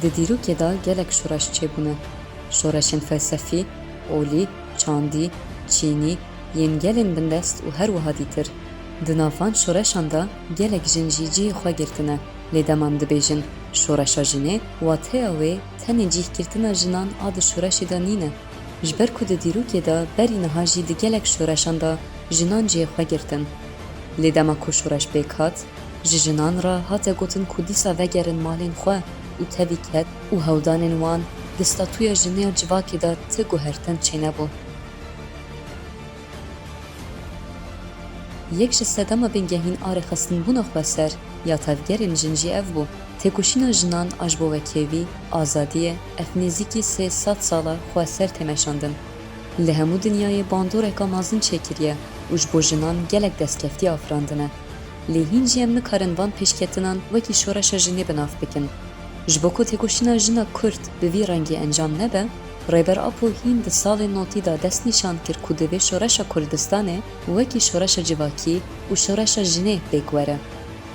Di dîrokê de gelek şoreş çêbûne. Şoreşên felsefî, olî, çandî, çînî, yên gelên bindest û her wiha dîtir. Di nav van şoreşan de gelek jin jî cihê xwe girtine. Lê dema em dibêjin şoreşa jinê, wateya wê tenê cihgirtina jinan a di şoreşê de nîne. Ji ber ku di dîrokê de berî niha jî di gelek şoreşan de jinan cihê xwe girtin. Lê dema ku şoreş pêk hat, ji jinan re hate gotin ku dîsa vegerin malên xwe û tevî ket û hewldanên wan di statuya jinê ya civakê de ti guhertin çênebû. Yek ji sedema bingehîn a rêxistinbûna xweser ya tevgerên jin jî ev bû, têkoşîna jinan a ji bo wekêvî, azadiyê, ev nêzîkî sê sed sal e xweser tê meşandin. Li hemû dinyayê bandoreka mezin çêkiriye û ji bo jinan gelek destkeftî afirandine. Lê hîn jî em nikarin van pêşketinan wekî şoreşa jinê bi nav bikin. Ji bo ku têkoşîna jina Kurd bi vî rengî encam nebe, Rêber Apo hîn di salên notî de dest nîşan kir ku divê şoreşa Kurdistanê wekî şoreşa civakî û şoreşa jinê pêk were.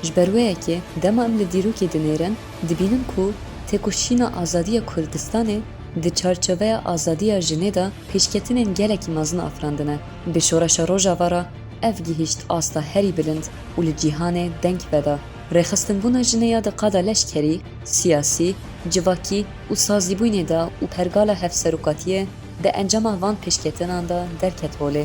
Ji ber wê yekê dema em li dîrokê dinêrin dibînin ku têkoşîna azadiya Kurdistanê di çarçoveya azadiya jinê de pêşketinên gelekî mezin afirandine. Bi Şoreşa Rojava re ev gihîşt asta herî bilind û li cîhanê deng veda. Rêxistinbûna jinê ya di qada leşkerî, siyasî, civakî û sazîbûnê de û pergala hevserokatiyê di encama van pêşketinan de derket holê.